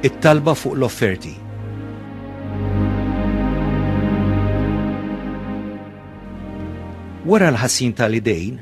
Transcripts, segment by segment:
It-talba fuq l-offerti. Wara l-ħassin tal-idejn,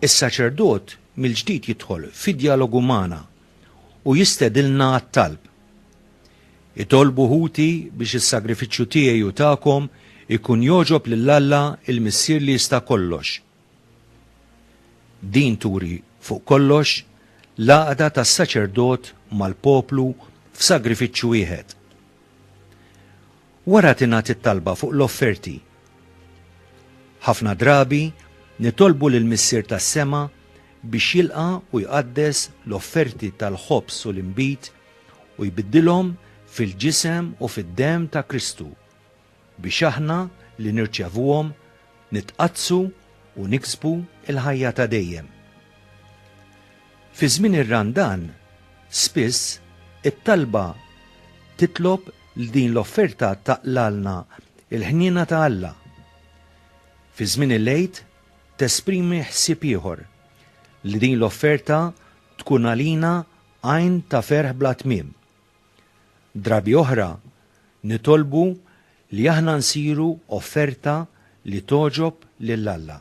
is-saċerdot mill-ġdid jidħol fi djalogu magħna u jistedilna għat-talb. Itolbu ħuti biex is-sagrifiċċju tiegħi u tagħkom ikun jogħġob lil Alla l-Missier li jista' kollox. Din turi fuq kollox l-għaqda tas-saċerdot mal-poplu f'sagrifiċċju wieħed. Wara tingħad it-talba fuq l-offerti. Ħafna drabi nitolbu lill-Missier tas-sema biex jilqa' u jqaddes l-offerti tal-ħobż u l-inbid u jbiddilhom fil-ġisem u fid-demm ta' Kristu, biex aħna li nirċevuhom nitqaddsu u niksbu l-ħajja ta' dejjem. Fi żmien ir-Randan, spiss, it-talba titlob li din l-offerta taqlgħalna l-ħniena ta' Alla. Fi żmien il-Għid tesprimi ħsieb ieħor, li din l-offerta tkun għalina għajn ta' ferħ bla tmiem. Drabi oħra nitolbu li aħna nsiru offerta li togħġob lil Alla.